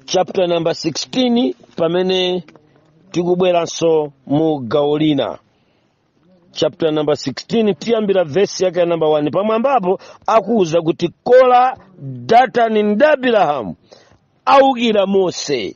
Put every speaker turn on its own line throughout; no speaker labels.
chapter number 16 pamene tikubweranso mu gawo lina chapter number 16 tiyambira vesi yake ya namba 1 pamwambapo akuwuza kuti kora datani ndi abirahamu aukira mose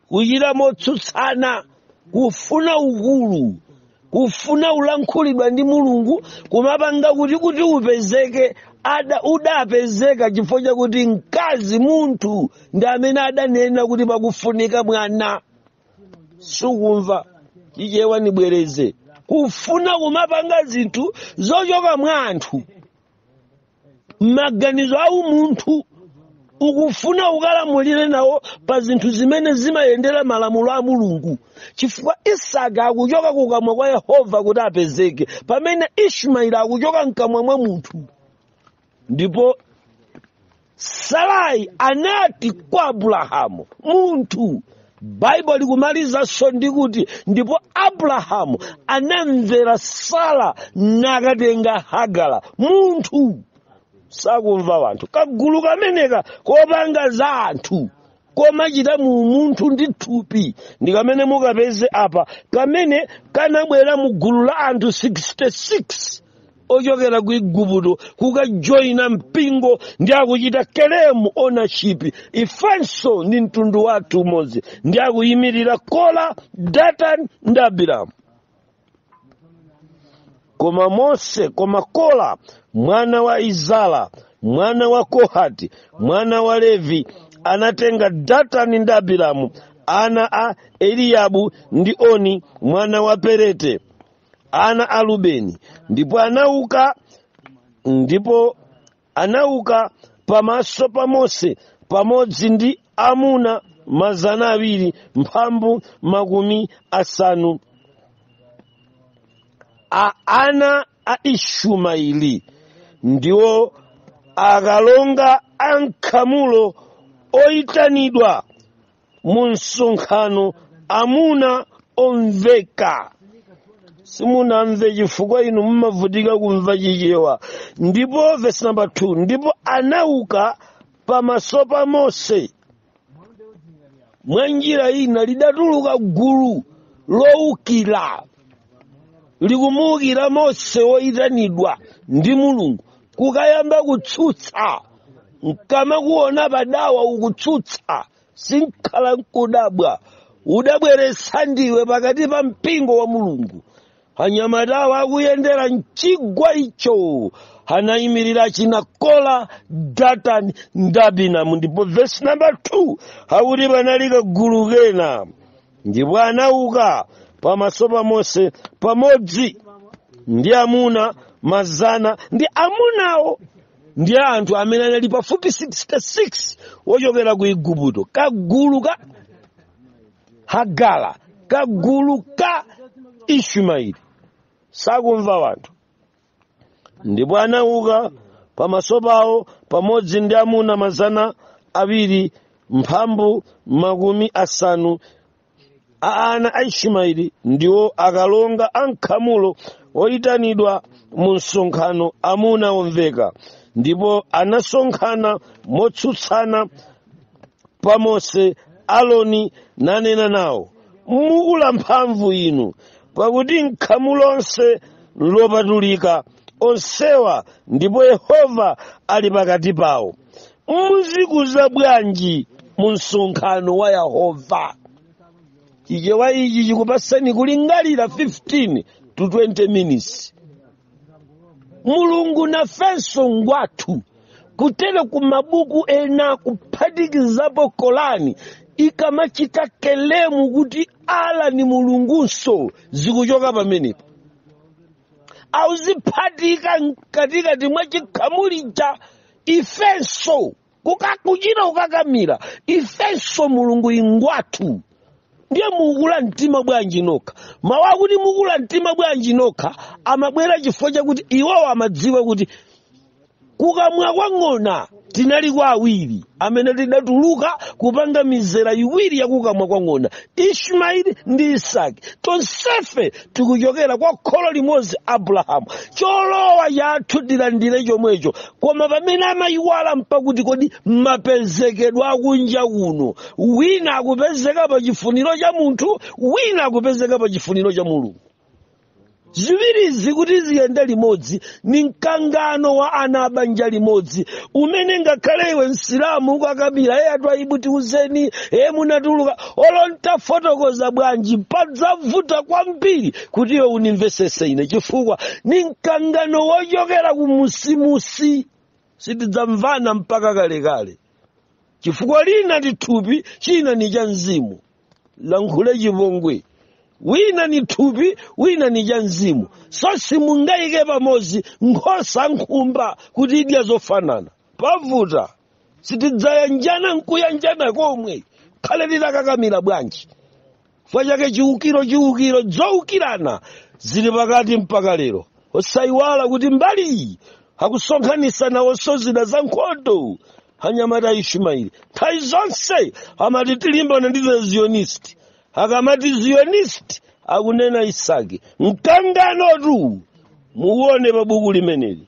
kuchita motsutsana kufuna ukulu kufuna kulankhulidwa ndi mulungu kumapanga kuti kuti upezeke ada udapezeka chifukwa chakuti mkazi munthu ndi amene adanena kuti pakufunika mwana sukumva chichewa nibwereze kufuna kumapanga zinthu zochoka mwa anthu maganizo a umunthu ukufuna ukalamulire nawo pa zinthu zimene zimayendera malamulo a mulungu chifukwa isaki akuchoka kukamwa kwa yehova kuti apezeke pamene ishmaeli akuchoka mkamwa mwa munthu ndipo sarai anati kwa abulahamu munthu baibulo likumalizanso ndi kuti ndipo abrahamu anamvera sara nakatenga hagara munthu sakumva wanthu kagulu kameneka kopanga za anthu komachita mu umunthu ndi thupi ndi kamene mukapeze apa kamene kanabwera mu gulu la anthu 66 ochokera ku igupto kukajoyina mpingo ndi akuchita kelemu ownership ifenso ndi mtundu wathu umodzi ndi akuyimirira kora datani ndi abiramu koma kora mwana wa izara mwana wa kohati mwana wa levi anatenga datani ndi abiramu ana a eliyabu ndi oni mwana wa perete ana a rubeni ndipo anauka ndipo anauka pamaso pa mose pamodzi ndi amuna mazana awiri mphambu makumi asanu a ana a ishumaili ndiwo akalonga a m'khamulo oyitanidwa mu msonkhano amuna omveka simunamve chifukwa inu mumavutika kumva chichewa ndipo vesi namba 2 ndipo anauka pamaso pa mose mwa njira ina lidatuluka gulu lowukira likumuwukira mose woyitanidwa ndi mulungu kukayamba kutsutsa nkamakuona padawa ukutsutsa sinkhale nkudabwa udabweretsa ndiwe pakati pa mpingo wa mulungu anyamatawa akuyendera mchigwa icho anayimirira achina kola datani ndi abiramu ndipo vesi namba 2 akuti panali kagulu kena ndipo anauka pamaso pa mose pamodzi ndi amuna mazana ndi amunawo ndi anthu amene anali pafupi 66 ochokera ku igupto kagulu ka hagala kagulu ka ishumaeli sakumva wanthu ndipo anauka pamaso pawo pamodzi ndi amuna mazana awiri mphambu makumi asanu a ana a ishimaeli ndiwo akalonga a nkhamulo oyitanidwa mu msonkhano amuna omveka ndipo anasonkhana motsutsana pa mose aloni nanena nawo mukula mphamvu inu pakuti mkhamu lonse nlopatulika onsewa ndipo yehova ali pakati pawo mudzikuza bwanji mu msonkhano wa yehova chichewa ichi chikupasani kulingalira 15 to 20 minutes mulungu nafenso ngwathu kutere ku mabuku ena kuphatikizapo kolani ikamachita kelemu kuti ala ni mulungunso zikuchoka pamenepo auziphatika mkatikati mwa chikhamulija ifenso Kuka- kuchita kukakamira ifenso mulungu ingwathu ndiye mukula mtima bwanji nokha mawu akuti mukula mtima bwanji nokha amabwera chifukwa chakuti iwowo amadziwa kuti kukamwa kwa ng'ona tinali kwa awiri amene tidatuluka kupanga mizera iwiri ya kukamwa kwa ng'ona ishmaeli ndi isaki tonsefe tikuchokera kwa kholo limodzi abrahamu cholowa chathu tilandire chomwecho koma pamene amayiwala mpakuti kodi mapezekedwa akunja kuno wina akupezeka pa chifuniro cha munthu wina akupezeka pa chifuniro cha mulungu ziwirizi kuti ziyende limodzi ni mkangano wa ana abanja limodzi umene ngakhale iwe msilamu ukakabira ee a twaibu tiuzeni ee munatuluka olo ntafotokoza bwanji padzavuta kwambiri kuti iwe undimvetsetse ine chifukwa ni mkangano wochokera kumusimusi sitidzamvana mpaka kalekale chifukwa lina ndi thupi china ni cha mzimu lankhule chipongwe wina ni thupi wina ni cha mzimu so simungayike pamodzi nkhosa nkhumba kuti idya zofanana pavuta sitidzayanjana nkuyanjana komwe khale titakakamira bwanji chifukwa chake chiukiro chiukiro zoukirana zili pakati mpaka lero osayiwala kuti mbali iyi akusonkhanisa nawonso zida za nkhondo anyamata a ishumaili nthawi zonse amati tilimbana ndi the zionist akamati zionist akunena isaki mkanganotu muwone pa buku limeneli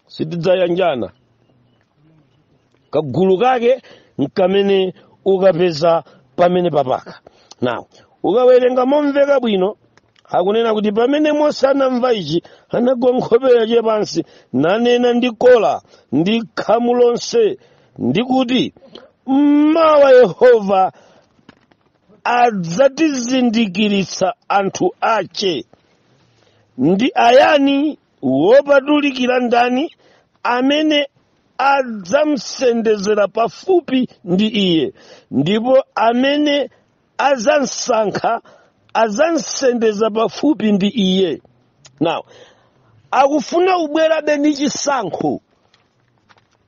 sitidzayanjana kagulu kake nkamene ukapeza pamene papaka now ukawerenga momveka bwino akunena kuti pamene mose anamva ichi anagwa nkhope yace pansi nanena ndi kola ndi khamu lonse ndi kuti mmawa yehova adzatizindikiritsa anthu ace ndi ayani wopatulikira ndani amene adzamsendezera pafupi ndi iye ndipo amene adzamsankha adzamsendeza pafupi ndi iye now akufuna kubwerabe ndi chisankho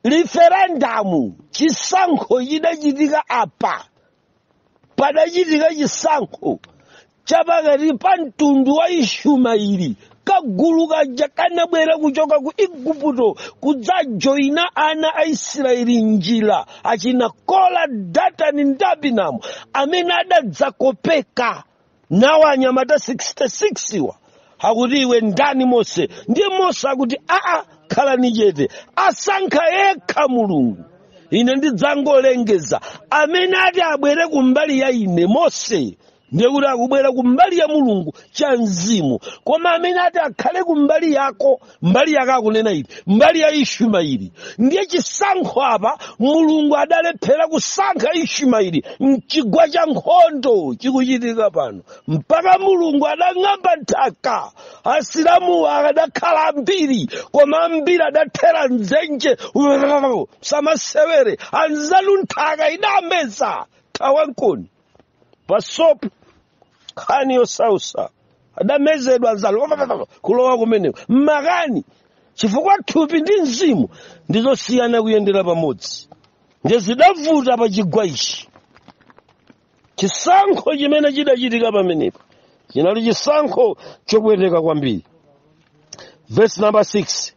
riferendamu chisankho chidachitika apa padachitika chisankho chapakati pa mtundu wa ishumaili kagulu kaja kanabwera kuchoka ku igupto kudzajoyina ana a isiraeli njira achina kola datani ndi abinamu amene adadzakopeka nawo anyamata 66 wa akuti iwe ndani mose ndiye mose akuti aa khalani chete asankha yekha mulungu ine ndidzangolengeza amene ati abwere kumbali ya ine mose ndiye kuti akubwera kumbali ya mulungu cha mzimu koma amene ati akhale kumbali yako mbali yake akunena ili mbali ya ishumaili ndiye chisankho apa mulungu adalephera kusankha ishumaili mchigwa cha nkhondo chikuchitika pano mpaka mulungu adang'amba nthaka asilamu akadakhala ambiri koma ambiri adathera mdzenje samasewere anzanu nthaka idameza thawankoni pasopo nkhani yosausa adamezedwa anzako kulowa kumeneko mmakani chifukwa thupi ndi mzimu ndizosiyana kuyendera pamodzi nde zidavuta pa chigwa ichi chisankho chimene chidachitika pamenepo chinali chisankho chopweteka kwambiri vesi number 6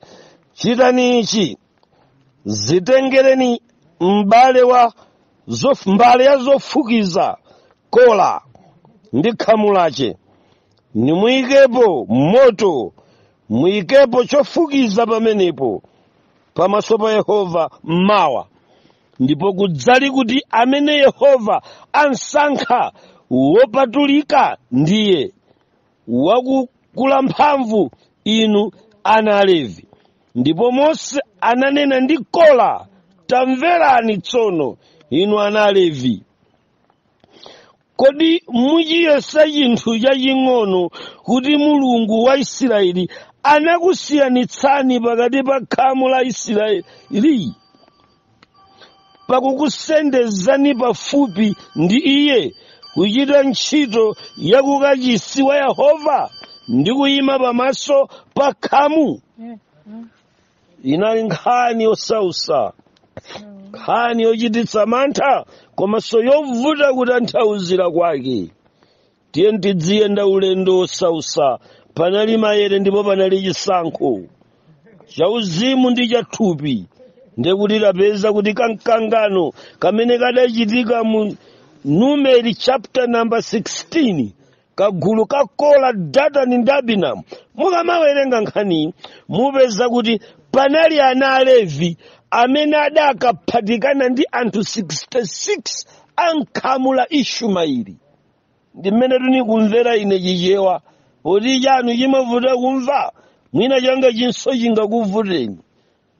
chitani ichi zitengereni mbale ya zofukiza kola ndi khamu lache nimuyikepo moto muyikepo chofukiza pamenepo pamaso pa yehova mmawa ndipo kudzali kuti amene yehova ansankha wopatulika ndiye wakukula mphamvu inu ana alevi ndipo mose ananena ndi kola tamverani tsono inu ana alevi kodi muchiyesa chinthu chaching'ono kuti mulungu wa isirayeli anakusiyanitsani pakati pa khamu la isirayeli pakukusendezani pafupi ndi iye kuchita ntchito ya kukachisi wa yehova ndi kuyima pamaso pa khamu inali nkhani yosausa nkhani yochititsa mantha komanso yovuta kutanthauzira kwake tiye tidziyenda ulendo wosausa panali mayere ndipo panali chisankho chauzimu ndi chathupi ndekuti tapeza kuti kamkangano kamene kadachitika mu numeri chapter number 16 kagulu ka kola datani ndi abiramu mukamawerenga nkhani mupeza kuti panali ana alevi amene adakaphatikana ndi anthu 66 a m'khamu la ishumaeli ndi mmene ndikumvera ine chichewa poti chanu chimavuta kumva mwina changa chinso chingakuvuteni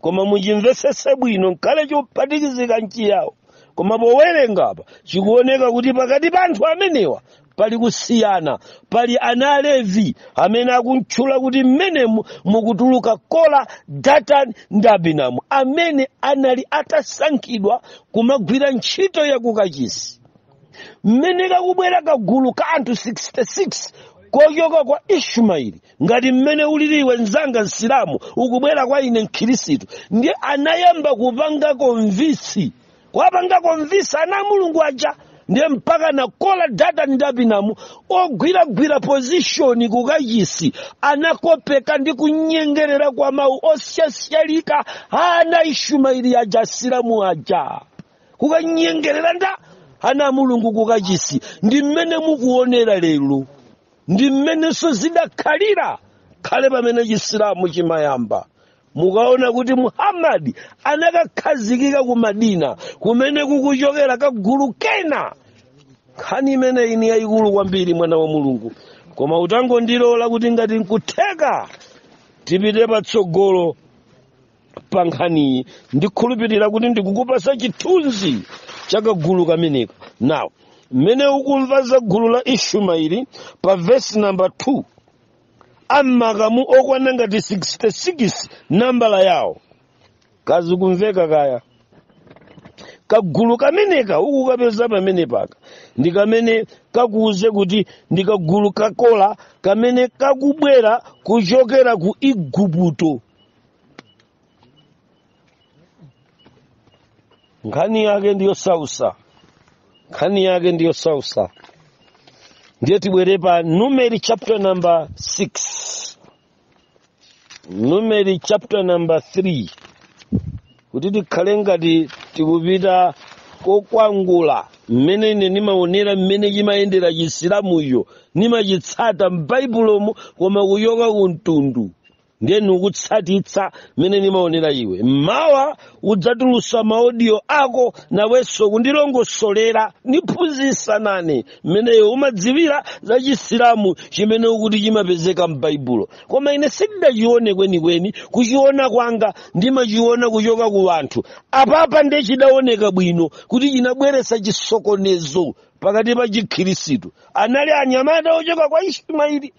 koma muchimvesese bwino nkale chophatikizika n'chiyawo koma powerenga apa chikuoneka kuti pakati pa anthu amenewa pali kusiyana pali ana alevi amene akumtchula kuti mmenemu mukutuluka kola datani ndi abiramu amene anali atasankhidwa kumagwira ntchito yakukachisi mmene kakubwera kagulu ka anthu 66 kochoka kwa ishumaeli ngati mmene ulili iwe mzanga msilamu ukubwera kwa ine mkhirisitu ndiye anayamba kupanga convince kuwapanga convince ana a mulungu aja ndiye mpaka na kola datani ndi abiramu ogwiragwira pozishoni kukachisi anakopeka ndi kunyengerera kwa mawu osyasyalika a ana ishumaeli aja asilamu aja kukanyengerera ndi ana a mulungu kukachisi ndi mmene mukuonera lero ndi mmenenso zidakhalira khale pamene chisilamu chimayamba mukaona kuti muhammadi anakakhazikika ku madina kumene kukuchokera kagulu kena nkhani imeneyi ndi yayikulu kwambiri mwana wa mulungu koma utangondilola kuti ngati nkutheka tipite patsogolo pa nkhaniyi ndikhulupirira kuti ndikukupasa chithunzi cha kagulu kameneka now mmene ukumva za gulu la ishumaili pa vesi namba 2 amakamu okwana ngati 66 nambala yawo kazikumveka kaya kagulu kameneka ukukapeza pamenepaka ndi kamene kakuuze kuti ndi kagulu ka kora kamene kakubwera kuchokera ku igupto nkhani yake ndi yosausa nkhani yake ndi yosausa ndiye tibwere pa numeri chapter number 6 numeri chapter number 3 kuti tikhale ngati tikupita kokwangula mmene ine ndimaonera mmene chimayendera chisilamucho ndimachitsata m'baibulomo koma kuchoka ku mtundu ndiye nikutsatitsa mmene nimaonera iwe mmawa udzatulusa maodiyo ako nawenso kundilongosolera niphunzitse nane mmene iwe umadziwira za chisilamu chimene ukuti chimapezeka m'baibulo koma ine sindidachione kwenikweni kuchiona kwanga ndimachiona kuchoka ku anthu apapa ndiye chidaoneka bwino kuti chinabweresa chisokonezo pakati pa chikhirisitu anali anyamata ochoka kwa ismaili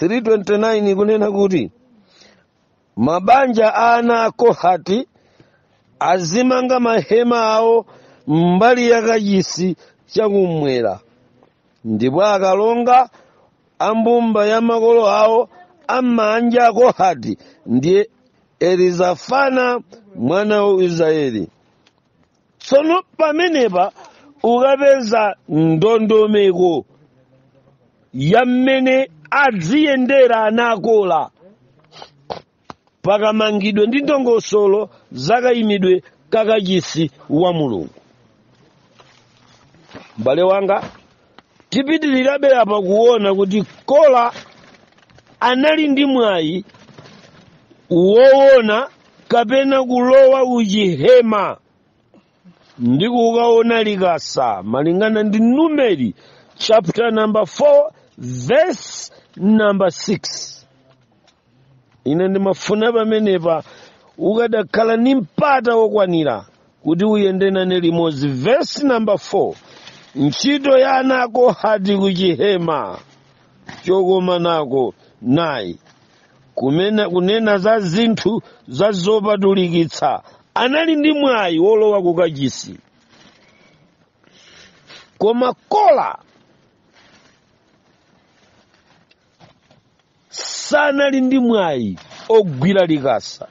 329 kunena kuti mabanja a ana a kohati azimanga mahema awo mbali ya kachisi chakumwera ndipo akalonga a mbumba ya makolo a mabanja a akohati ndiye elizafana mwana wa israeli tsono pamenepa ukapeza ndondomeko ya mmene adziyendera ana a kora pakamangidwe ndi ndongosolo zakayimidwe kakachisi wa mulungu m'bale wanga tipitirirabe apa kuona kuti kora anali ndi mwayi woona kapena kulowa m'chihema ndi kukaona likasa malingana ndi numeri chapter number 4 verse number 6 ine ndimafuna pamenepa ukadakhala ndi mpata wokwanira kuti uyende nane limodzi verse number 4 ntchito ya ana a kohati kuchihema chokomanako nayi kunena za zinthu za zopatulikitsa anali ndi mwayi wolowa kukachisi koma kola sanali ndi mwayi ogwira likasa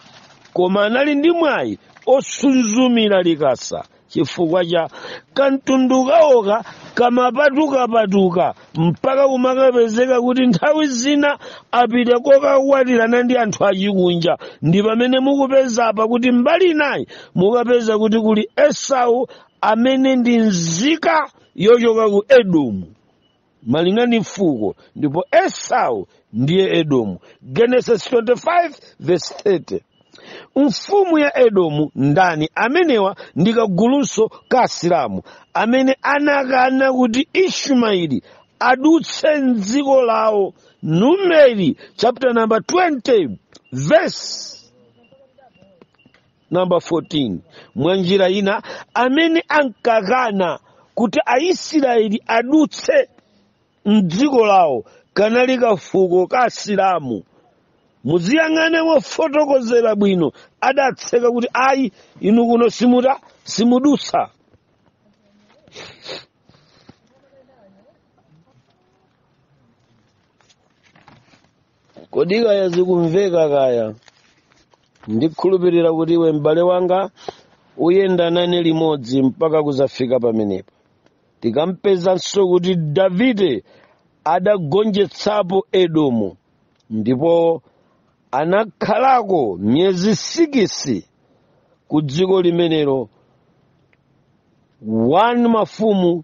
koma anali ndi mwayi osuzumira likasa chifukwa cha kamtundu kawoka kamapatukapatuka mpaka kumakapezeka kuti nthawi zina apita kokakwatirana ndi anthu achikunja ndi pamene mukupeza apa kuti mbali inayi mukapeza kuti kuli esau amene ndi nzika yochoka ku edomu malingana ndi fuko ndipo esau ndiye edomu genesis 25 verse 30 mfumu ya edomu ndani amenewa ndi kagulunso ka asilamu amene anakana kuti ishumaeli adutse mdziko lawo numeri chapter number 20 verse number 14 mwa njira ina amene ankakana kuti aisiraeli adutse mdziko lawo kanali kafuko ka asilamu muziyang'ane mofotokozera bwino adatseka kuti ayi inu kuno simuta simudutsa kodi kaya zikumveka kaya ndikhulupirira kuti iwe m'bale wanga uyenda nane limodzi mpaka kuzafika pamenepo tikampezanso kuti davide adagonjetsapo edomu ndipo anakhalako miyezi sikisi ku dziko limenelo 1 mafumu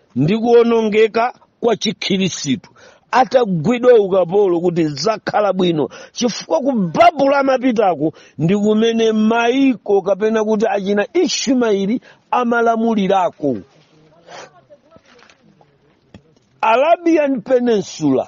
ndi kuonongeka kwa chikhirisitu atagwidwa ukapolo kuti zakhala bwino chifukwa ku babulo amapitako ndi kumene maiko kapena kuti achina ishumaeli amalamulirako arabian peninsula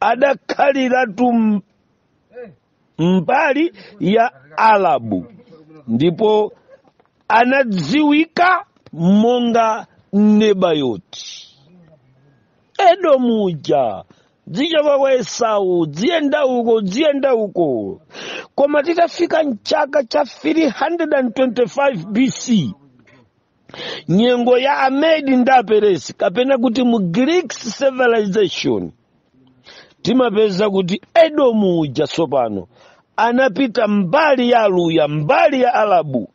adakhaliratu m- mbali ya alabu ndipo anadziwika monga nebayoti edomu uja dzichoka kwa esau dziyenda uko dziyenda uko koma titafika mchaka cha 325 bc nyengo ya amedi ndi aperesi kapena kuti mu greek civilization timapeza kuti edomu uja tsopano anapita mbali ya aluya mbali ya arabu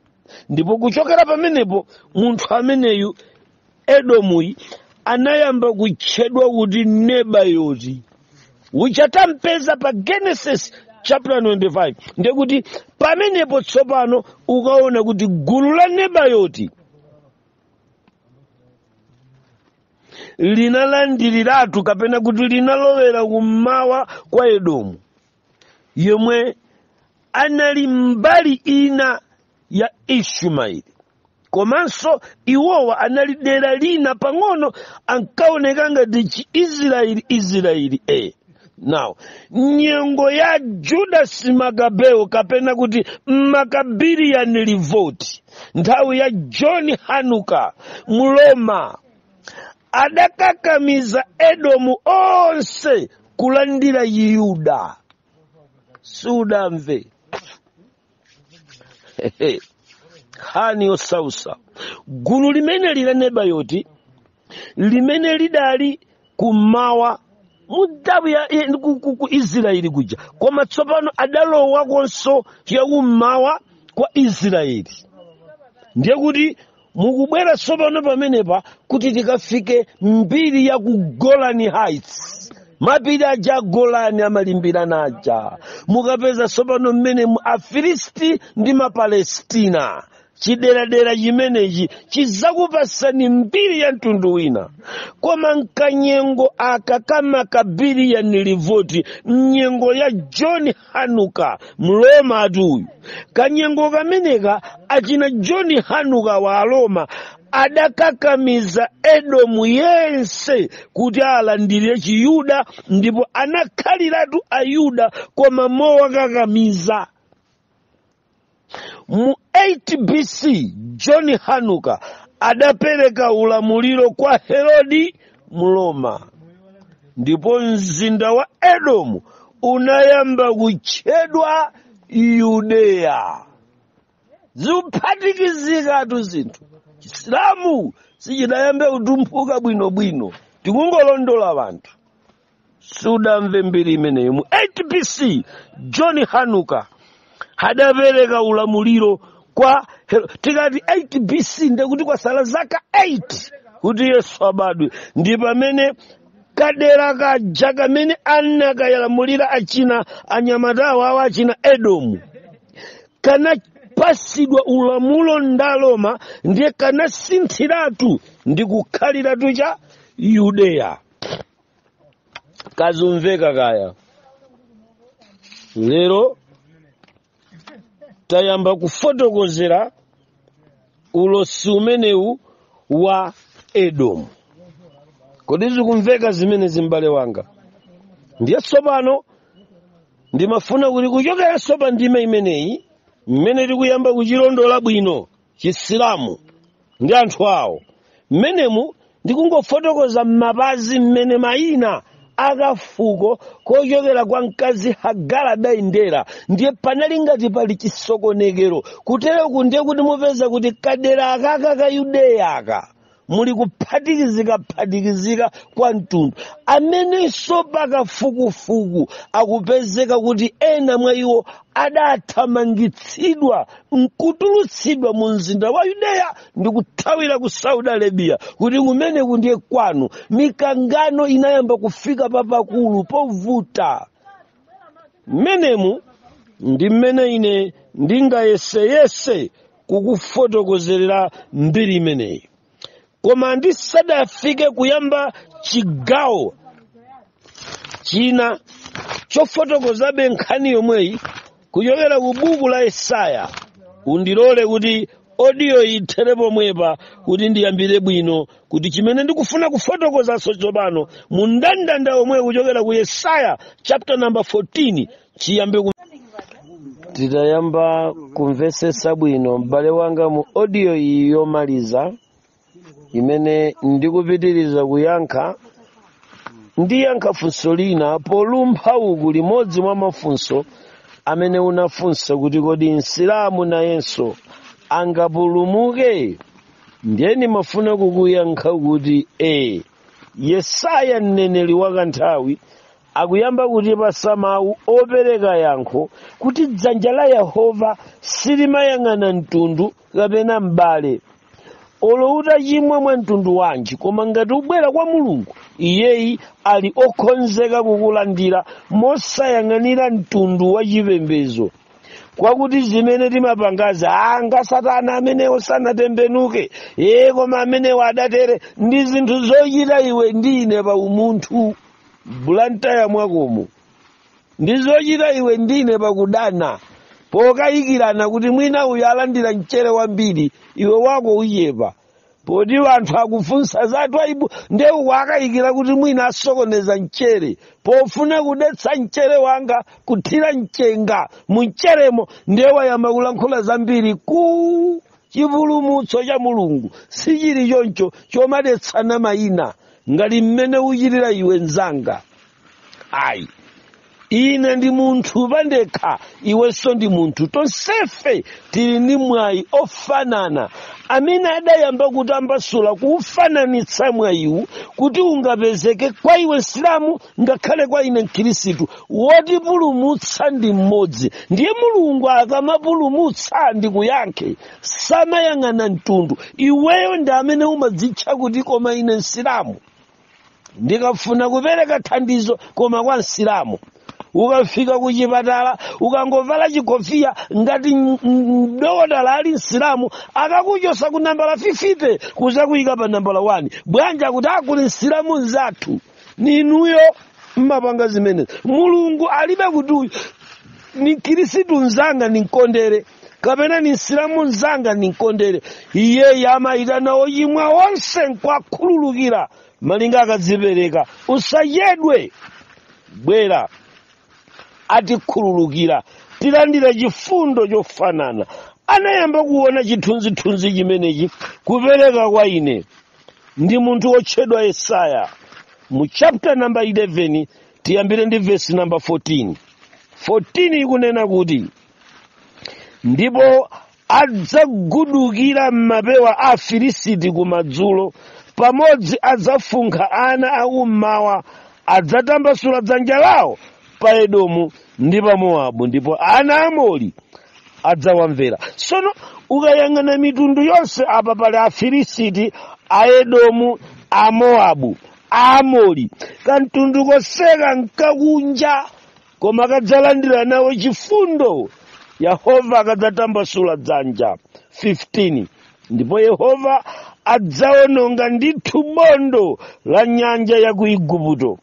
ndipo kuchokera pamenepo munthu ameneyu edomuyi anayamba kutchedwa kuti nebayoti uja tampeza pa genesis chapter 25 ndiye kuti pamenepo tsopano ukaona kuti gulu la nebayoti linalandiriratu kapena kuti linalowera kummawa kwa edomu yomwe anali mbali ina ya ishumaeli komanso iwowa anali dera lina pang'ono ankaoneka ngati chi israeli israeli e now nyengo ya judas makabeo kapena kuti maccabean revolt nthawi ya john hanuka mroma adakakamiza edomu onse kulandira yuda sudamve Hehe. nkhani yosausa gulu limene lija nebayoti limene lidali kummawa mudhabu ya ya- ku- ku- ku israeli kuja koma tsopano adalowakonso yakummawa kwa israeli ndiye kuti mukubwera tsopano pamenepa kuti tikafike mbiri ya ku golani heights mapiri aja a golani amalimbirana aja mukapeza tsopano mmene mu- afilisti ndi mapalestina chideradera chimenechi chidzakupasani mbiri ya mtundu wina koma mkanyengo aka ka maccabean revolt mnyengo ya john hanuka mromatu uyu kanyengo kameneka achina john hanuka wa aroma adakakamiza edomu yense kuti alandire chiyuda ndipo anakhaliratu ayuda koma mowakakamiza mu 8 bc john hanuka adapereka ulamuliro kwa herodi mroma ndipo mzinda wa edomu unayamba kutchedwa yudeya zikuphatikizikatu zinthu chisilamu sichidayambe kutumphuka bwinobwino tikungolondola wanthu sudamve mbiri imeneyo mu 8 bc john hanuka adapereka ulamuliro kwa Hero- tikati 8 bc ndiye kuti kwasala zaka 8 kuti yesu abadwe ndi pamene kadera kaja kamene anakayalamulira achina anyamatawo awo achina edomu kanapasidwa ulamuliro ndi Aroma ndiye kanasinthiratu ndi kukhaliratu cha yudeya kazikumveka kaya lero tayamba kufotokozera ulosi umenewu wa edomu kodi zikumveka zimenezi m'bale wanga ndiye tsopano ndimafuna kuti kuchokeranso pa ndima imeneyi mmene tikuyamba kuchilondola bwino chisilamu ndi anthu awo mmenemu ndikungofotokoza m'mapazi mmene mayina a kafuko kochokera kwa mkazi hagara adayendera ndiye panali ngati pali chisokonekero kutereku ndiye kuti mupeza kuti kadera akaka ka yudeya aka muli kuphatikizika-phatikizika kwa mtundu amenenso pa kafukufuku akupezeka kuti ena mwa iwo adathamangitsidwa nkutulutsidwa mu mzinda wa yudeya ndi kuthawira ku saudi arabiya kuti kumeneku ndiye kwanu mikangano inayamba kufika papakulu povuta mmenemu ndi mmene ine ndingayeseyese kukufotokozerera mbiri imeneyi koma ndisadafike kuyamba chigawo china chofotokozabe nkhani yomweyi kuchokera ku buku la yesaya undilole kuti odiyo ithere pomwepa kuti ndiyambire bwino kuti chimene ndikufuna kufotokozanso tsopano mu ndandanda womwewo kuchokera ku yesaya chapter number 14 chiyambe titayamba kumvetsetsa bwino m'bale wanga mu audio iyi yomaliza imene ndikupitiriza kuyankha ndiyankha funso lina polumpha uku limodzi mwa mafunso amene unafunsa kuti kodi msilamu nayenso angapulumuke ndiye ndimafuna kukuyankha kuti e yesaya mneneri wakanthawi akuyamba kutipasa mawu opereka yankho kuti dzanja la yehova silimayang'ana mtundu kapena m'bale olo utachimwa mwa mtundu wanji koma ngati ubwera kwa mulungu iyeyi ali okhonzeka kukulandira mosayang'anira mtundu wa chipembedzo kwakuti zimene timapanga azanga satana amenewo sanatembenuke ee koma amenewo adatere ndi zinthu zochita iwe ndi ine pa umunthu bulantaya mwakomo ndi zochita iwe ndi ine pakudana pokayikirana kuti mwina uyu alandira mchere wambiri iwe wako uchepa poti wanthu akufunsa za twaibu nde uku akayikira kuti mwina asokoneza mchere pofuna kudetsa mchere wanga kuthira mchenga mumcheremo nde wayamba kulankhula zambiri ku chipulumutso cha mulungu sichili choncho chomadetsana mayina ngati mmene uchitira iwe mzanga ayi ine ndi munthu pandekha iwenso ndi munthu tonsefe tili ndi mwayi ofanana amene adayamba kutambasula kuufananitsa mwayiwu kuti ungapezeke kwa iwe msilamu ngakhale kwa ine mkhirisitu wotipulumutsa ndi mmodzi ndiye mulungu akamapulumutsa ndi kuyankha samayang'ana mtundu iweyo ndi amene umadzitcha kuti koma ine msilamu ndikafuna kupereka thandizo koma kwa msilamu ukafika ku chipatala ukangovala chikofiya ngati m- m- mdokotala ali msilamu akakuchosa ku nambala 50 kuzakuyika pa nambala 1 bwanji kuti akuti msilamu mzathu ninuyo mmapanga zimenezo mulungu alibe kuti uyu ni khirisitu mzanga ninkondere kapena ni msilamu mzanga ninkondere iyeyi amayitana ochimwa onse nkwakhululukira malinga akadzipereka usachedwe bwera atikhululukira tilandira chifundo chofanana anayamba kuona chithunzithunzi chimenechi kupereka kwa ine ndi munthu wotchedwa yesaya mu chapter namba 11 tiyambire ndi vesi namba 14 14 ikunena kuti ndipo adzagudukira m'mapewa a afilisiti kumadzulo pamodzi adzafunkha ana akummawa adzatambasula dzanja lawo pa edomu ndi pa mowabu ndipo ana aamori adzawamvera sono ukayang'ana mitundu yonse apa pali afilisiti aedomu amoabu aamori kamtundu konseko nkakunja koma kadzalandira nawo chifundo yehova akadzatambasula dzanja 15 ndipo yehova adzawononga ndithu bondo la nyanja ya ku igupto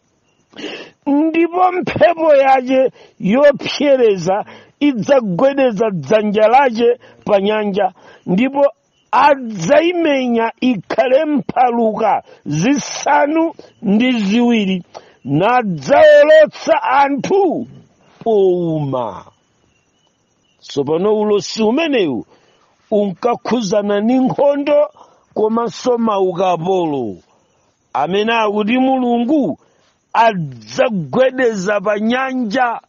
ndipo mphepo yache yopsereza idzagwedeza dzanja lache pa nyanja ndipo adzaimenya ikhale mphaluka zisanu ndi ziwiri nadzaolotsa anthu pouma tsopano ulosi umenewu unkakhuzana ndi nkhondo komanso maukapolo amene akuti mulungu adzagwedeza pa nyanja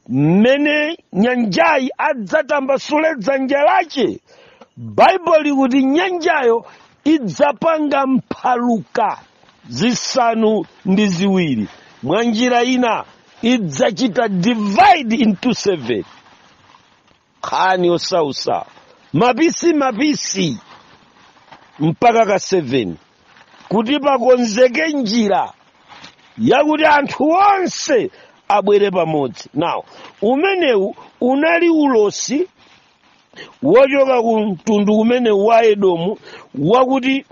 mmene nyanjayi adzatambasule dzanja lache baibulo likuti nyanjayo idzapanga mphaluka zisanu ndi ziwiri mwa njira ina idzachita divide into seven khani osausa mapisi mapisi mpaka ka 7 kuti pakonzeke njira yakuti anthu onse abwere pamodzi now umenewu unali ulosi wochoka ku mtundu umenewu wa edomu wakuti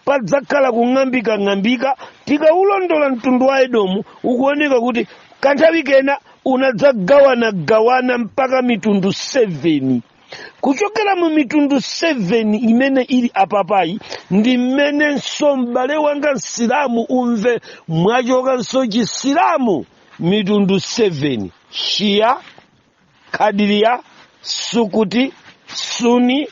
padzakhala kung'ambikang'ambika tikaulondola mtundu wa edomu ukuoneka kuti kanthawi kena unadzagawanagawana mpaka mitundu 7 kuchokera mu mitundu 7 imene ili apapayi ndi mmenenso m'bale wanga msilamu umve mwachokanso chisilamu mitundu 7 shiya kadiriya sukuti suni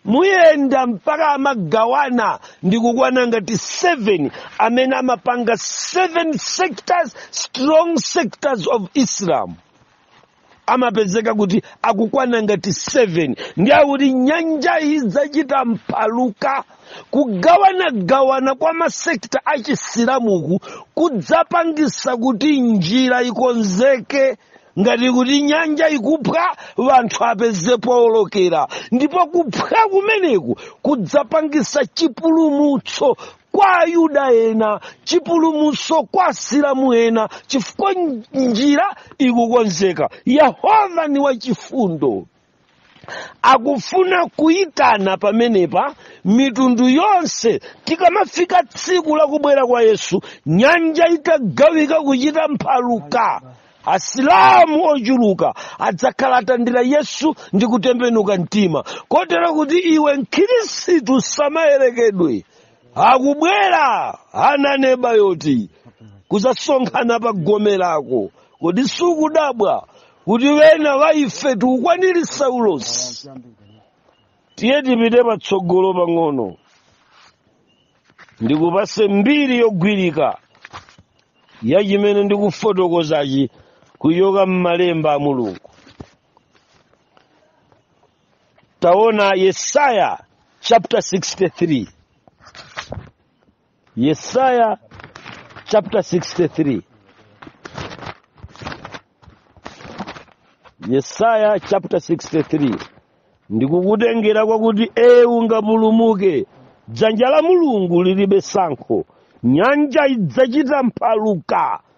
muyenda mpaka amagawana ndi kukwana ngati 7 amene amapanga 7 sectors strong sectors of islam amapezeka kuti akukwana ngati 7 nde akuti nyanjayi idzachita mphaluka kugawanagawana kwa masekta achisilamuku kudzapangisa kuti njira ikonzeke ngati kuti nyanja ikuphwa anthu apeze powolokera ndipo kuphwa kumeneku kudzapangisa chipulumutso kwa ayuda ena chipulumutso kwa asilamu ena chifukwa njira ikukonzeka yehova ni wachifundo akufuna kuyitana pamenepa mitundu yonse tikamafika tsiku lakubwera kwa yesu nyanja itagawika kuchita mphaluka asilamu ochuluka adzakhala atandira yesu ndi kutembenuka mtima kotero kuti iwe mkhristu usamayerekedwe akubwera amaneba oti kuzasonkhana pa gome lako kodi sukudabwa kuti wena wa ife tikukwanirisa ulosi tiye tipite patsogolo pang'ono ndikupase mbiri yogwirika ya chimene ndikufotokozachi kuchoka m'malemba a mulungu taona yesaya chapter 63 Yesaya chapter 63. Yesaya chapter 63. Ndikukutengera kwakuti iwe ungapulumuke. Dzanja la Mulungu lilibe sankho. Nyanja idzachita mphaluka.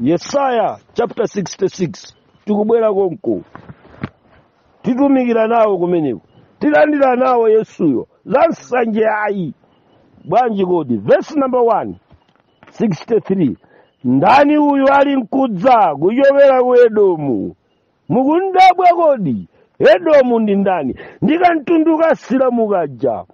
yesaya chapter 66 tikubwera konko titumikira nawo kumeneko tilandira nawo yesuyo za nsanje ayi bwanji kodi vesi number 1 63 ndani uyu ali nkudza kuchokera ku edomu mukundabwa kodi edomu ndi ndani ndikamtundu kasilamu kaja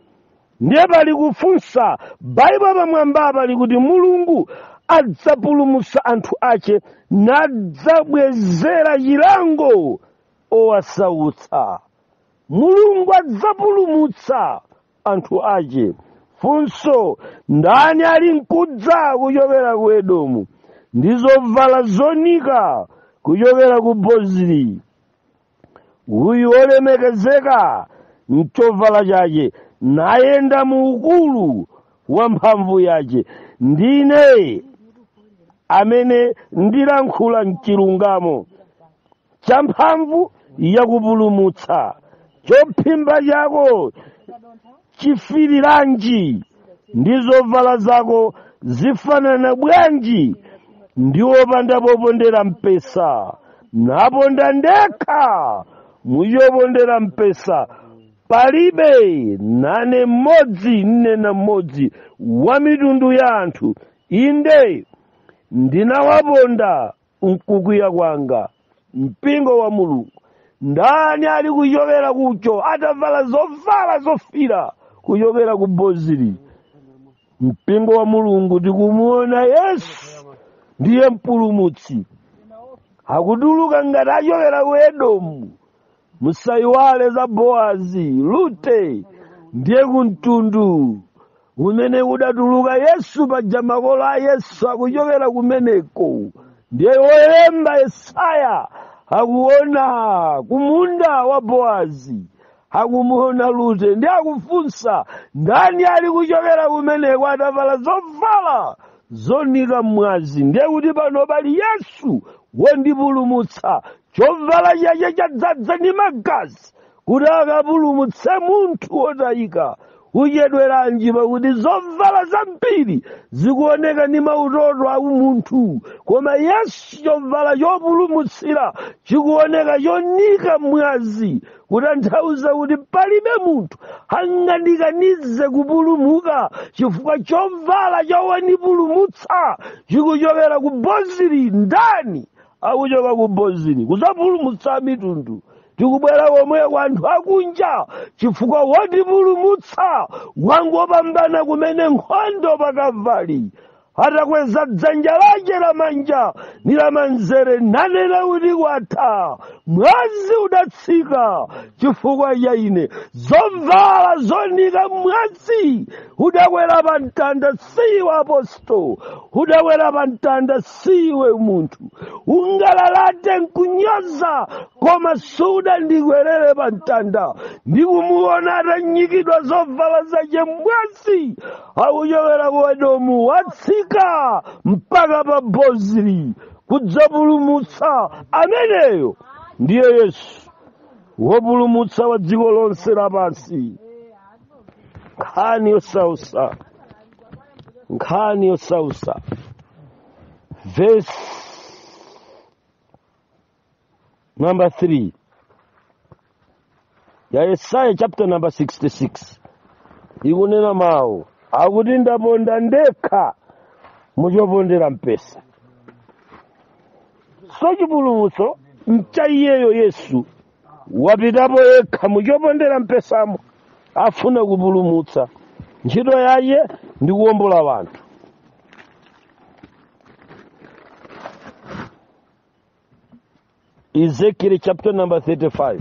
ndiye pali kufunsa baibulo pamwamba pali kuti mulungu adzapulumusa anthu ache nadzabwezera chilango owasautsa mulungu adzapulumutsa anthu ache funso ndani ali nkudza kuchokera ku edomu ndi zovala zonika kuchokera ku bozili uyu olemekezeka mchovala chache nayenda mu ukulu wa mphamvu yache ndine amene ndilankhula mchilungamo cha mphamvu yakupulumutsa chophimba chako chifiriranji ndi zovala zako zifanana bwanji ndi wopanda popondera mpesa naponda ndekha muchopondera mpesa palibe nane mmodzi ine ndi mmodzi wa mitundu ya anthu inde ndinawaponda mkukwiya kwanga mpingo wa mulungu ndani ali kuchokera uko atavala zovala zofira kuchokera ku bozili mpingo wa mulungu tikumuona yesu ndiye mpulumutsi akutuluka ngati achokera ku edomu musayiwale za boazi lute ndiye kumtundu kumene kudatuluka yesu paja makolo a yesu akuchokera kumeneko ndiye wolemba yesaya akuona kumunda wa boazi akumuona lute ndiye akufunsa ndani ali kuchokera kumeneko atavala zovala zonika mwazi ndiye kuti pano pali yesu wondipulumutsa chovala chache chadzadza ndi magazi kuti akapulumutse munthu wotayika uchedweranji pakuti zovala zambiri zikuoneka ndi mautoto a umunthu koma yesu chovala chopulumutsira chikuoneka chonika mwazi kutanthauza kuti palibe munthu angandikanize kupulumuka chifukwa chovala cha wonipulumutsa chikuchokera ku bozili ndani akuchoka ku bozili kuzapulumutsa mitundu tikubwera komwe kwa anthu akunja chifukwa wotipulumutsa wangopambana kumene nkhondo pakavali atakweza dzanja lake lamanja ndi lamanzere nanena kuti kwatha mwazi udatsika chifukwa cha ine zovala zonika mwazi udakwera pa mtanda siwe apostol udakwera pa mtanda siwe munthu ungalalate nkunyoza koma sudandikwerere pa mtanda ndikumuona atanyikidwa zovala zace m'mwazi akuchokera ku edomu watsika mpaka pa bozili kudzapulumutsa ameneyo ndiye yesu wopulumutsa wa dziko lonse lapansi nkhani yosautsa nkhani yosautsa verse number 3 ya yesaya chapter number 66 ikunena mawu akuti ndaponda ndekha muchopondera mpesa so chipulumutso mcha iyeyo yesu wapitapo yekha muchopondera mpesamo afuna kupulumutsa ntchito yache ndi kuwombola wanthu ezekiel chapter number 35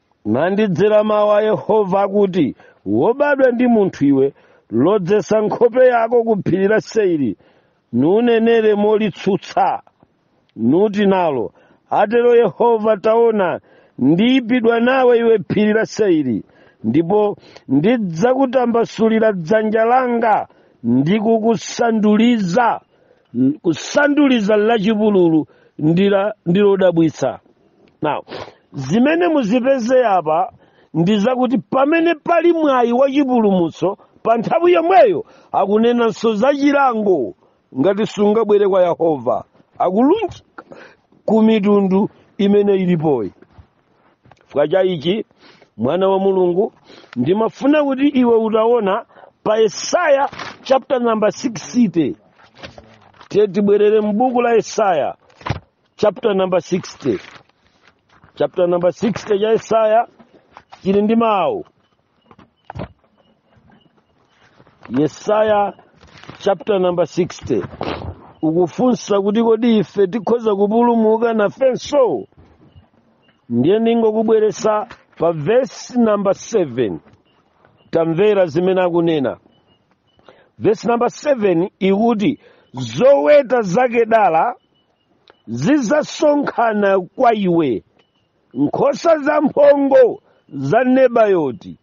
nandidzera mawu a yehova akuti wobadwa ndi munthu iwe lozetsa nkhope yako ku phiri la seiri nunenere molitsutsa nuti nalo atero yehova taona ndiipidwa nawe iwe phiri la seiri ndipo ndidzakutambasulira dzanja langa ndi kukusanduliza kusanduliza lachipululu ndira ndilodabwitsa now zimene muzipeze apa ndi zakuti pamene pali mwayi wa chipulumutso pa nthawi yomweyo akunenanso za chilango ngati sungabwere kwa yehova akulunjika ku mitundu imene ilipoyi chifukwa cha ichi mwana wa mulungu ndimafuna kuti iwe utaona pa yesaya chapter number 60 tiye tibwerere m'buku la yesaya chapter number 60 chapter number 60 cha yesaya chili ndi mawu yesaya chapter number 60 ukufunsa kuti kodi ife tikhoza kupulumuka nafenso ndiye ndingokubweresa pa vesi number 7 tamvera zimene akunena vesi number 7 ikuti zoweta za kedala zidzasonkhana kwa iwe nkhosa zamphongo za nebayoti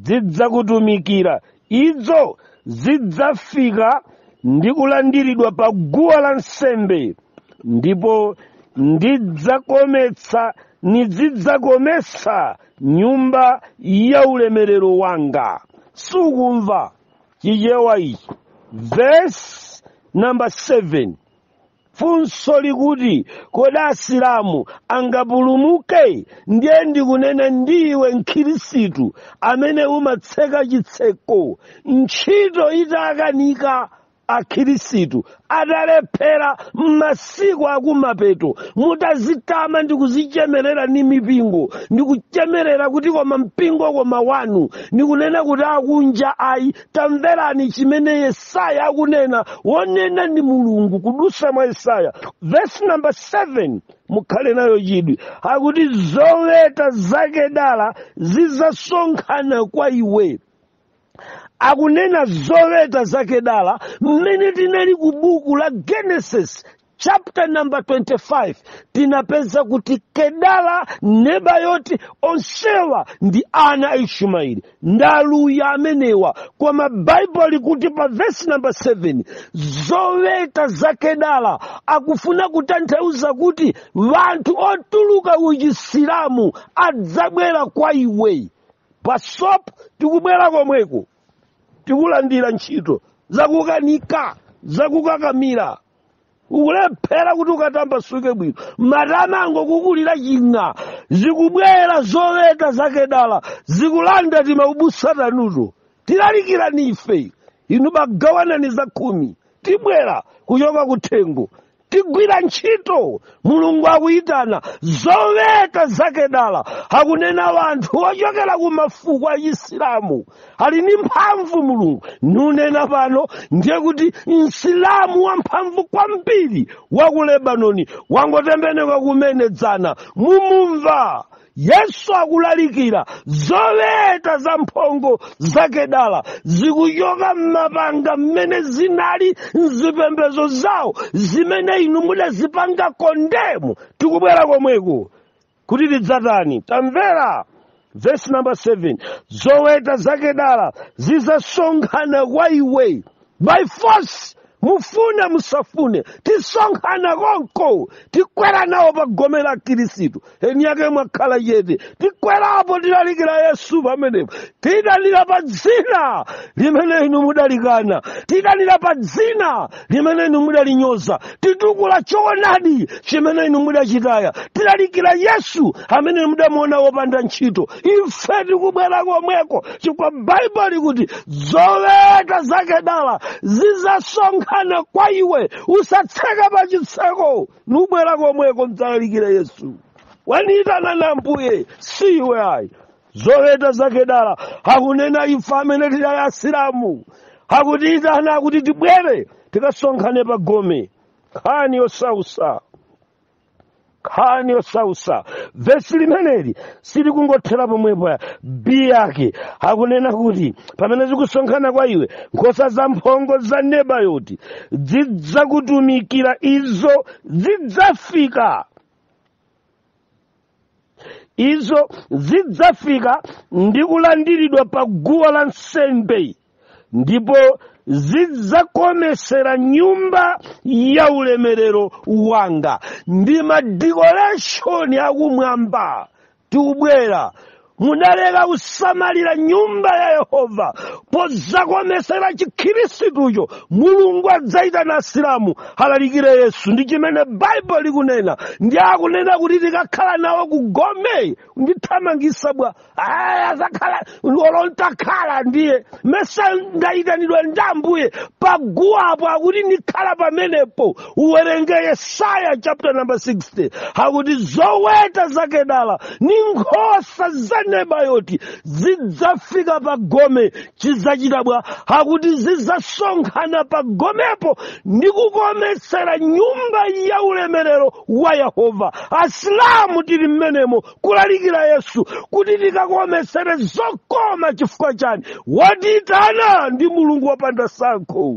zidzakutumikira izo zidzafika ndi kulandiridwa pa guwa la nsembe ndipo ndidzakometsa nizidzakometsa nyumba ya ulemerero wanga sukumva chichewa ichi vesi namba 7 funso likuti kodi asilamu angapulumuke ndiye ndikunena ndi iwe mkhirisitu amene umatseka chitseko ntchito itakanika akhirisitu atalephera m'masiku akumapeto mutazitama ndi kuzichemerera ndi mipingo ndi kuchemerera kuti koma mpingo koma wanu ndikunena kuti akunja ayi tamverani chimene yesaya akunena wonena ndi mulungu kudusa mwa yesaya vesi namba 7 mukhale nayo chidwi akuti zoweta za kedala zizasonkhana kwa iwe akunena zoweta za kedala mmene tinali ku buku la genesis chapter number 25 tinapeza kuti kedala nebayoti onsewa ndi ana a ishumaeli ndaluya amenewa koma baibulo likuti pa vesi number 7 zoweta za kedala akufuna kutanthauza kuti wanthu otuluka ku chisilamu adzabwera kwa iwe pa sopu tikubwera komweko tikulandira ntchito zakukanika zakukakamira ukulephera kuti ukatambasuke bwino matama angokukulira ching'a zikubwera zoweta za kedala zikulanda timaubusa tanuto tilalikirani ife inu bagawanani za khumi tibwera kuchoka kuthengo tigwira ntchito mulungu akuyitana zoweta za kedala akunena wanthu ochokera ku mafuko a chisilamu ali ndi mphamvu mulungu nunena pano ndiye kuti msilamu wamphamvu kwambiri wa ku lebanoni wangotembenuka kumene dzana mumumva yesu akulalikira zoweta za mphongo za kedala zikuchoka m'mapanga mmene zinali m'zipembedzo zawo zimene inu mudazipanga condemn tikubwera komweko kuti tidzatani tamvera vesi namba 7 zoweta za kedala zizasonkhana kwa iwe by force mufune musafune tisonkhana konko tikwera nawo pa gome la khirisitu eni yake mwakhala chete tikwerapo tilalikira yesu pamenepo tiitanira pa dzina limene inu mudalikana tiitanira pa dzina limene inu mudalinyoza titukula choonadi chimene inu mudachitaya tilalikira yesu amene mudamuona wopanda ntchito ife tikubwera komweko chifukwa baibulo likuti zoweta za kedala zizasonkhana kwa iwe usatseka pa chitseko nubwera komweko ndidzalalikira yesu waniyitana ni ambuye si iwe ayi zoweta za kedala akunena ife amene tidali asilamu akutiyitana akuti tibwere tikasonkhane pa gome nkhani yosausa nkhani yosausa vesi limeneli silikungothera pomwepo ya b yake akunena kuti pamene zikusonkhana kwa iwe nkhosa za mphongo za nebayoti zidzakutumikira izo zidzafika izo zidzafika ndi kulandiridwa pa guwa la nsembe ndipo zidzakometsera nyumba ya ulemerero wanga ndi madikoreshoni akumwamba tikubwera mudaleka kusamalira nyumba ya yehova pozakomesera chikhirisitucho mulungu adzaitana asilamu alalikire yesu ndi chimene baibulo likunena ndi akunena kuti tikakhala nawo kugome ndithamangisa bwa aya zakhala olo ntakhala ndiye mesa ndayitanidwa ndi ambuye paguwapo akuti ndikhala pamenepo uwerenge yesaya chapter number 60 akuti zoweta za kedala ni nkhosa za nebayoti zidzafika pa gome chidzachita bwa akuti zidzasonkhana pa gomepo ndi kukometsera nyumba ya ulemerero wa yehova asilamu tili mmenemo kulalikira yesu kuti tikakometsere zokoma chifukwa chani watiitana ndi mulungu wopanda sankho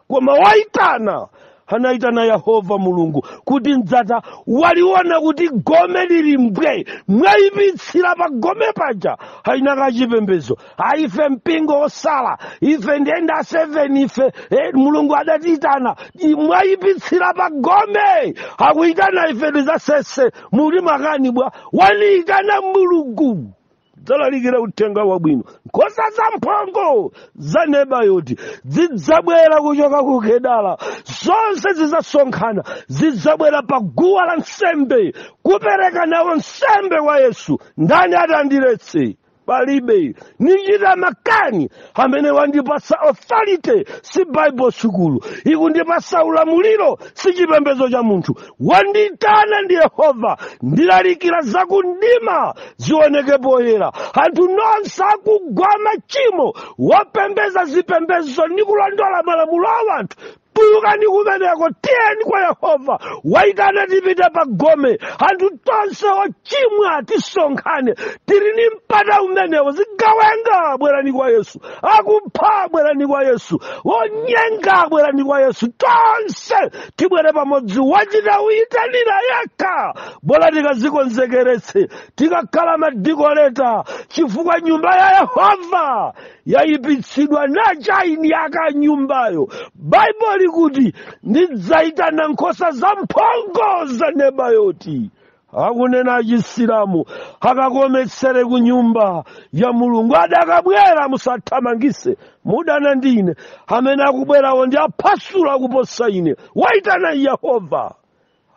koma waitana anaitana yehova mulungu kuti ndidzachita waliona kuti gome lili mbwe mwaipitsira pa gome paja aina kachipembedzo aife mpingo osala ife ndenda 7 ife eh, mulungu adatiitana i- mwaipitsira pa gome akuitana ife ndizasese muli makani bwa wandiitana mulungu dzalalikira uthenga wabwino nkhosa zamphongo za nebayoti zidzabwera kuchoka ku kedala zonse zidzasonkhana zidzabwera pa guwa la nsembe kupereka nawo nsembe kwa yesu ndani atandiletse palibe nichita makani amene wandipatsa authority si bible sukulu ikundipatsa ulamuliro si chipembedzo cha munthu wandiitana ndi yehova ndilalikira za kumdima zioneke poyera anthu nonse akugwa machimo wopembeza zipembezo ndi kulondola malamulo a wanthu tulukani kumeneko tiyeni kwa yehova waitana tipite pa gome anthu tonse ochimwa tisonkhane tili ni mpata umenewo zigawenga bwerani kwa yesu akupha bwerani kwa yesu onyenga bwerani kwa yesu tonse tibwere pamodzi wachita kuyitanira yekha bola tikazikonzekeretse tikakhala madikoleta chifukwa nyumba ya yehova yayipitsidwa ndi chani yaka nyumbayo baibo likuti ndidzayitana nkhosa zamphongo za nebayoti akunena achisilamu akakometsere ku nyumba ya mulungu adakabwera musathamangise mudana ndi ine amene akubwerawo ndi aphasula akuposa ine waitana yehova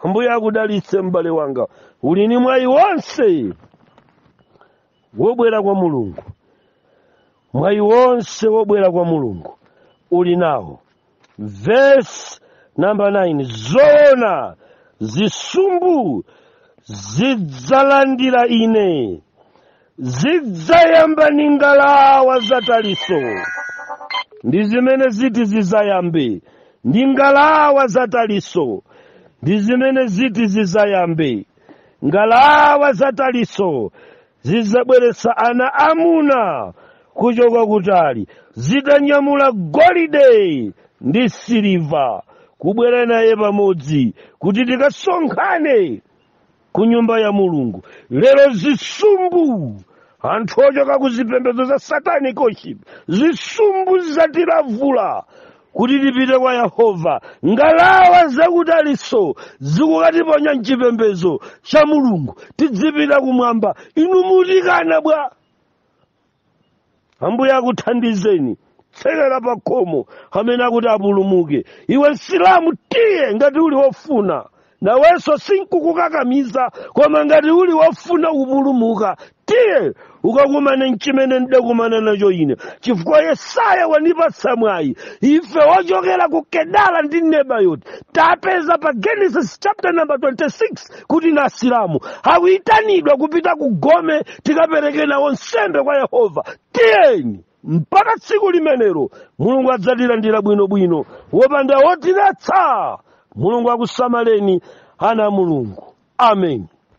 ambuye akudalitse m'bale wanga uli ni mwayi wonse wobwera kwa mulungu mwayi wonse wobwera kwa mulungu uli nawo vesi namba 9 zoona zisumbu zidzalandira ine zidzayamba ndi ngalawa za talisi ndi zimene ziti zizayambe ndi ngalawa za talisi ndi zimene ziti zizayambe ngalawa za Talisi zidzabweretsa ana amuna kuchoka kutali zitanyamula golide ndi siliva kubwera naye pamodzi kuti tikasonkhane ku nyumba ya mulungu lero zisumbu anthu ochoka ku zipembedzo za satanic worship zisumbu zatilavula kuti tipite kwa yehova ngalawa za ku Talisi zikukatiponya mchipembedzo cha mulungu tidzipita kumwamba inu mutikana bwa ambuye akuthandizeni tsekera pa khomo kamene akuti apulumuke iwe msilamu tiye ngati uli wofuna nawenso sinkukukakamiza koma ngati uli wofuna kupulumuka tiye ukakumane nchimene ndidakumana nacho ine chifukwa yesaya wanipatsa mwayi ife wochokera ku kedala ndi nebayoti tapeza pa genesis chapter number 26 kuti na asilamu akuyitanidwa kupita ku gome tikapereke nawo nsembe kwa yehova tiyeni mpaka tsiku limenelo mulungu adzatilandira bwinobwino wopanda wotiletsa mulungu akusamaleni ana a mulungu ameni